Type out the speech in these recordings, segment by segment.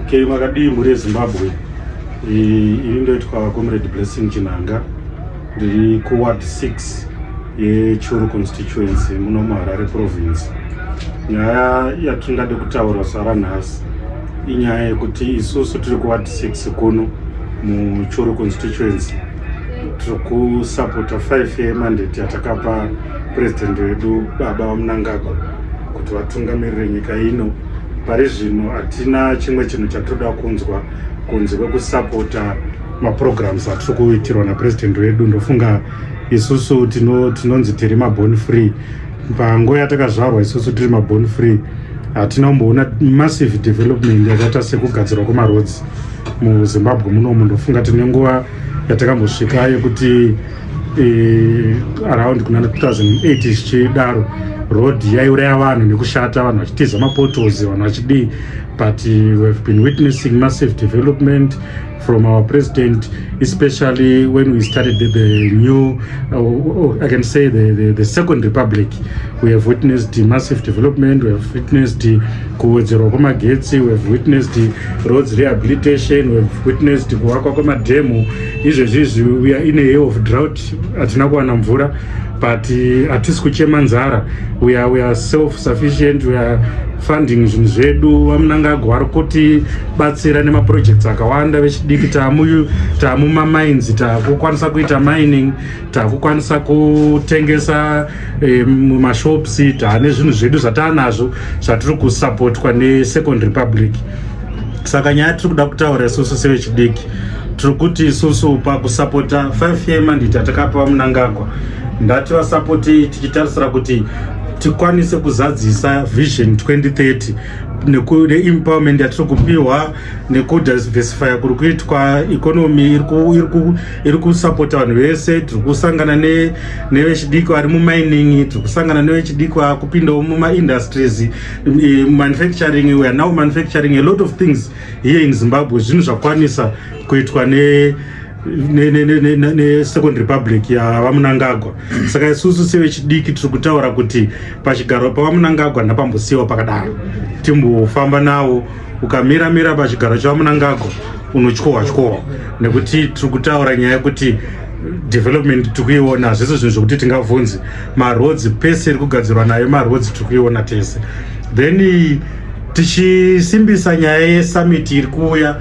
Okay, makadii mhuri yezimbabwe ini ndoitwa comrade blessing chinhanga ndiri kuward 6 yechuru constituency muno muharare province nyaya yatingade kutaura sara nhasi inyaya yekuti isusu tiri kuward 6 kuno muchuru constituency tiri kusapota 5 yemandeti yatakapa purezidenti wedu baba vamunangagwa kuti vatungamirire nyika ino pari zvino hatina chimwe chinhu chatoda kunzwa kunze kwekusapota maprograms atiri kuitirwa napurezidenti wedu ndofunga isusu tinonzi tiri mabon free panguva yatakazvarwa isusu tiri maborn free hatina kumboona massive development yakaita sekugadzirwa kwemaroads muzimbabwe munomu ndofunga tine nguva yatakambosvika yekuti eh, around kuna 2008 zvichidaro road yaiuraya vanhu nekushata vanhu vachitiza mapotos vanhu vachidii but we have been witnessing massive development from our president, especially when we started the, the new, uh, oh, I can say the, the, the, second republic. We have witnessed the massive development, we have witnessed the kuwedzerwa kwemagetsi, we have witnessed the roads rehabilitation, we have witnessed kuvakwa kwemadhemu. Izvezvi izvi we are in a year of drought, hatina kuwana mvura but uh, hatisi kuchema nzara we are, we are self sufficient we are funding zvinhu zvedu vamunangagwa vari kuti batsira nemaprojects akawanda vechidiki taamumamainzi takukwanisa kuita mining takukwanisa kutengesa eh, mumashops e, taane zvinhu zvedu zvataanazvo zvatiri kusupportwa nesecond republic saka nyaya tiri kuda kutaura isusu sevechidiki tiri kuti isusu pakusapota 5 year mandate atakapa vamunangagwa ndati vasapotei tichitarisira kuti tikwanise kuzadzisa vision 2030 neempowerment yatiri kupiwa nekudiversifya kuri kuitwa economy iri kusapota vanhu vese tiri kusangana nevechidiki vari mumining tiri kusangana nevechidiki akupindawo mumaindustries eh, manufacturing weare now manufacturing a lot of things here in zimbabwe zvinhu zvakwanisa kuitwa ne nesecond republic yavamunangagwa saka isusu sevechidiki tiri kutaura kuti pachigaro pavamunangagwa ndapambosiyiwa pakadaro timbofamba navo ukamira mira pachigaro chavamunangagwa unotyohwa tyohwa nekuti tiri kutaura nyaya yekuti development tiri kuiona hazvisi zvinhu zvekuti tingavhunzi marodzi pese iri kugadzirwa nayo marodzi tiri kuiona tese then tichisimbisa nyaya yesummit iri kuuya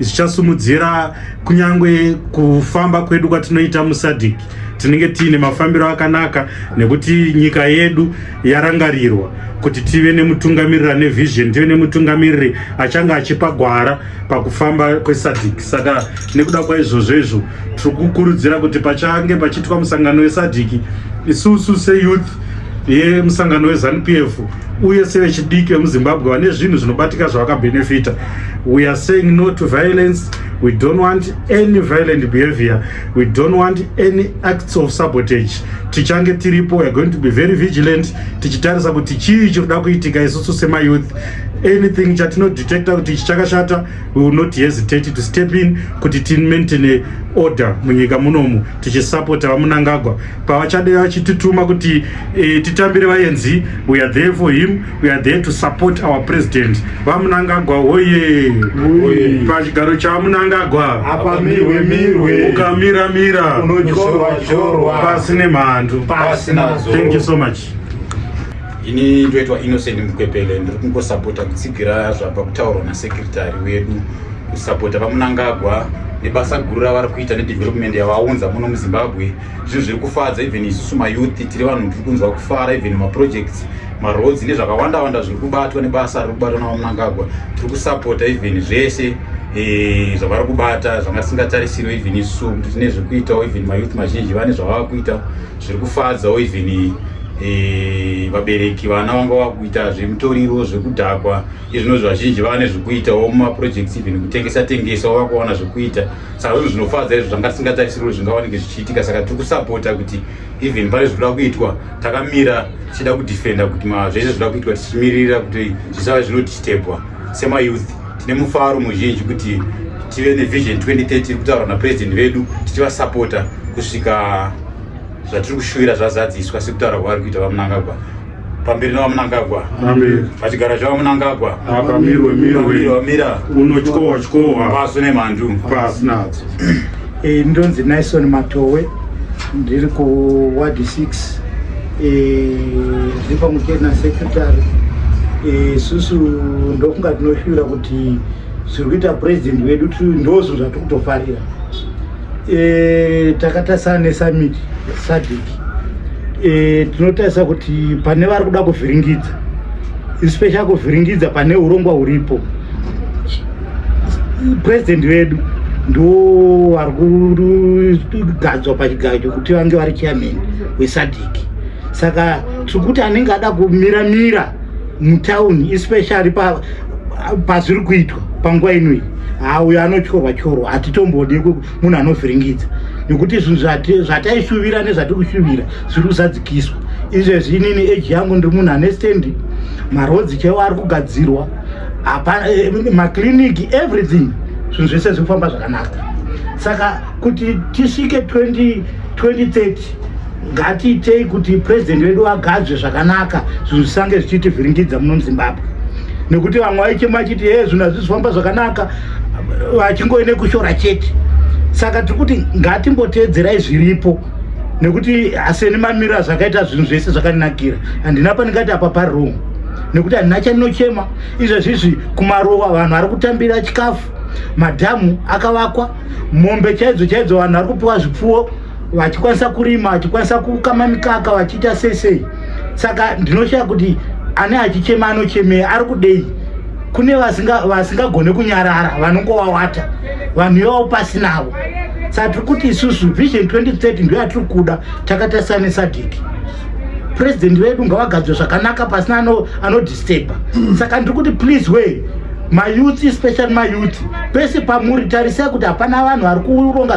zvichasumudzira kunyange kufamba kwedu kwatinoita musadhiki tinenge tiine mafambiro akanaka nekuti nyika yedu yarangarirwa kuti tive nemutungamiriri ane vision tive nemutungamiriri achange achipa gwara pakufamba kwesadhiki saka nekuda kwaizvozvo izvo tiri kukurudzira kuti pachange pachiitwa musangano wesadhiki isusu seyouth yemusangano wezanu p f uye sevechidiki vemuzimbabwe vane zvinhu zvinobatika zvavakabhenefita we are saying no to violence we don't want any violent behavior we don't want any acts of sabotage tichange tiripo weare going to be very vigilant tichitarisa kuti chii chiri kuda kuitika isusu semayouth anything chatinodetecta kuti ichi chakashata we will not hesitate to step in kuti timaintaine order munyika munomu tichisapota vamunangagwa pavachade vachitituma kuti e, titambire vayenzi we are there for him we are there to support our president vamunangagwa hoye pachigaro chamunangagwa ukamira mira pasi nemhandu thank you so much ini ndoitwa innocent mukwepele ndiri kungosapota kutsigira zvabva kutaurwa nasekretary wedu kusapota vamunangagwa nebasa guru ravari kuita nedevelopment yavaunza muno muzimbabwe zvinhu zviri kufadza even isusu mayouth tiri vanhu tiri kunzwa kufara even maprojects maroads nezvakawanda wanda zviri kubatwa nebasa riri kubatwa navamunangagwa tiri kusapota even zvese eh, zvavari kubata zvanga tisingatarisire even isu kuti tine zvekuitawo even mayouth mazhinji vane zvavava kuita zviri kufadzawo even eh, vabereki vana vanga vava kuita zvemutoriro zvekudhakwa izvino zvazhinji vava nezvekuitawo mumaprojects even kutengesa tengesa wava kuwana zvekuita saka zvinhu zvinofadza izvo zvanga tisingatarisiri kuti zvingawanike zvichiitika saka tiri kusapota kuti even pane zvinoda kuitwa takamira tichida kudefenda kuti zvese zvinoda kuitwa tichimiririra kuti zvisava zvinodistebwa semayouth tine mufaro muzhinji kuti tive nevision 2030 iri kutaurwa napresident vedu tichivasapota kusvika zvatiri kushuvira zvazadziswa sekutaura kwavari kuita vamunangagwa pamberi navo munangagwa pachigara zvavo munangagwa akamirwe mirwewamira unotyowa tyowa pasu nemhandu pasi nadzo eh, ndonzi nison matowe ndiri kuwadi 6 eh, ndiri pamuchena secretary eh, susu ndofunga tinoshuwira kuti zviri kuita president wedu ndozvo zvatiri kutofarira e, takatarisana nesamiti sadik e, tinotarisa kuti pane vari kuda kuvhiringidza especially kuvhiringidza pane urongwa huripo president vedu ndo vari kugadzwa pachigayo chokuti vange vari chairman wesadik saka tiri kuti anenge ada kumiramira mutauni especially pa pazviri kuitwa panguva ino iyi haa uyo anotyorwa tyorwa hatitombodi munhu anovhiringidza nekuti zvinhu zvataishuvira nezvatiri kushuvira zviri kuzadzikiswa izvezvi inini eji yangu ndiri munhu ane stendi marodzi chaiwo ari kugadzirwa hapana eh, maclinic everything zvinhu zvese zviri kufamba zvakanaka saka kuti tisvike 2030 ngatiitei kuti president wedu agadzwe zvakanaka zvinhu zvisange zvichiiti vhiringidza muno muzimbabwe nekuti vamwe vaichema vachiti e zvinhu hazvisi kufamba zvakanaka vachingove nekushora chete saka tiri kuti ngatimboteedzerai zviripo nekuti haseni mamiro azvakaita zvinhu zvese zvakaninakira handina pandingati apa pari wrong nekuti handina chandinochema izvezvizvi kumaruva vanhu vari kutambira chikafu madhamu akavakwa mombe chaidzo chaidzo vanhu vari kupiwa zvipfuwo vachikwanisa kurima vachikwanisa kukama mikaka vachiita sei sei saka ndinoshaya kuti ane achichema anochemei ari kudei kune vasingagone kunyarara vanongowawata vanhu ivavo pasi navo saka tiri kuti isusu vision 2030 ndiyo yatiri kuda takatarisa nesadiki purezidendi vedu ngavagadzwe zvakanaka pasina anodisteba mm. saka ndiri kuti please way mayouth especially mayouth pese pamuri tarisai kuti hapana vanhu vari kuronga